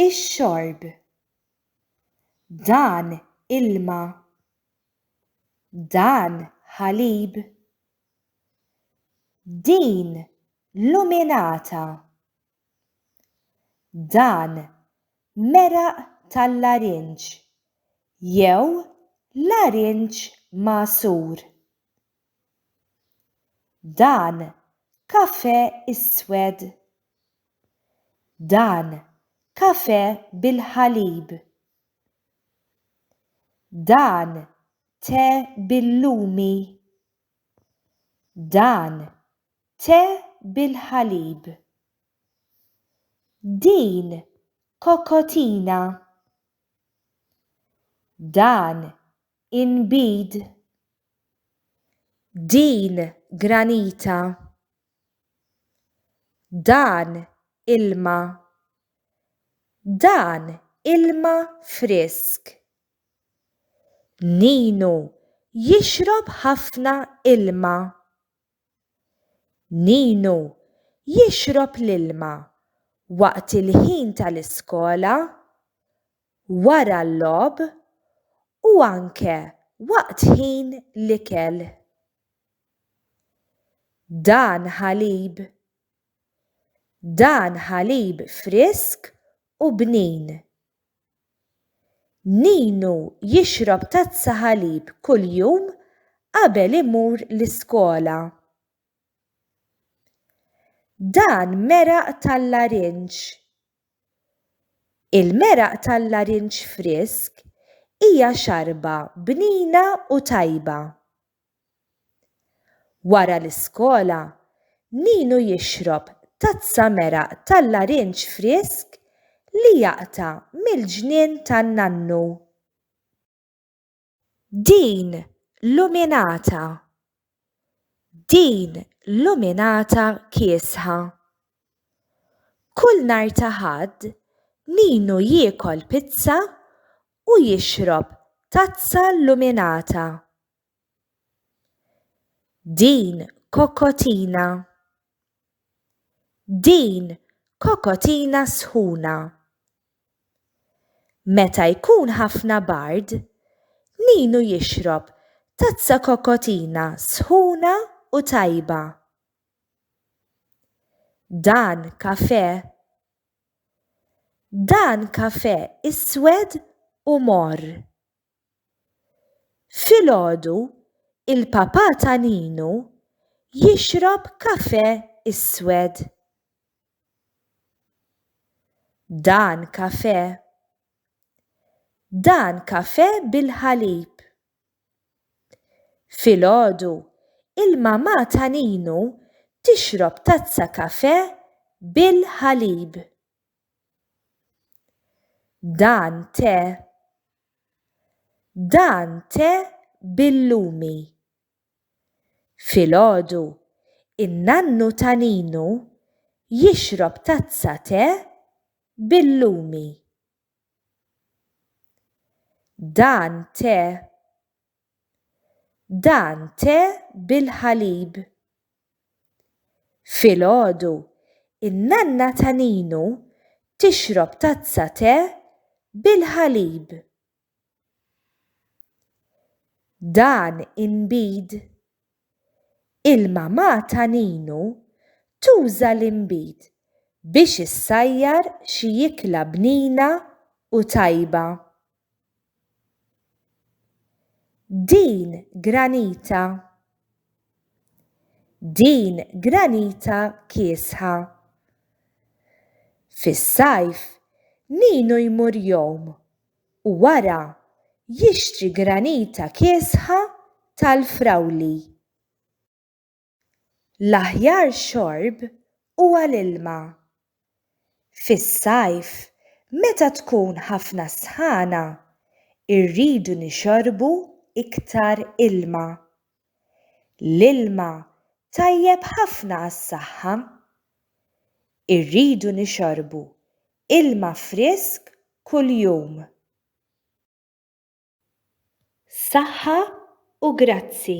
Ix-xorb. Dan ilma. Dan ħalib. Din luminata. Dan meraq tal-larinġ jew larinġ magħsur. Dan kafè iswed. Dan kafè bil-ħalib. Dan te bil-lumi. Dan te bil-ħalib. Din kokotina. Dan inbid din granita, dan ilma, dan ilma frisk. Ninu jixrob ħafna ilma. Ninu jixrob l-ilma waqt il-ħin tal-iskola wara l-logħob u anke waqt ħin l-ikel. Dan ħalib. Dan ħalib frisk u bnin. Ninu jixrob tazza ħalib kuljum qabel imur l-iskola. Dan meraq tal-larinġ. Il-meraq tal-larinġ frisk hija xarba bnina u tajba. Wara l-iskola, Ninu jixrob tazza meraq tal-larinġ frisk li jaqta' mill-ġnien tan-nannu. Din luminata. Din luminata kiesħa. Kull nhar ta' Ħadd Ninu jiekol pizza u jixrob tazza luminata. Din kokotina. Din kokotina sħuna. Meta jkun ħafna bard, Ninu jixrob tazza kokotina sħuna u tajba. Dan kafè. Dan kafè iswed u morr. Filgħodu, il-Papà ta' Ninu jixrob kafè iswed. Dan kafè. Dan kafè bil-ħalib. Filgħodu, il-Mamà ta' Ninu tixrob tazza kafè bil-ħalib. Dan te Dan te bil-lumi. Filgħodu, in-nannu ta' Ninu jixrob tazza te bil-lumi. Dan te Dan te bil-ħalib. Filgħodu, in-nanna ta' Ninu tixrob tazza te bil-ħalib. Dan inbid. Il-mamà ta' Ninu tuża l-inbid biex issajjar xi ikla bnina u tajba. Din granita. Din granita kiesħa. Fis-sajf, Ninu jmur jom u wara jixtri granita kiesħa tal-frawli. L-aħjar xorb huwa l-ilma. Fis-sajf, meta tkun ħafna s-sħana, irridu nixorbu iktar ilma. L-ilma tajjeb ħafna għas-saħħa. Irridu nixorbu ilma frisk kuljum. Saħħa u grazzi.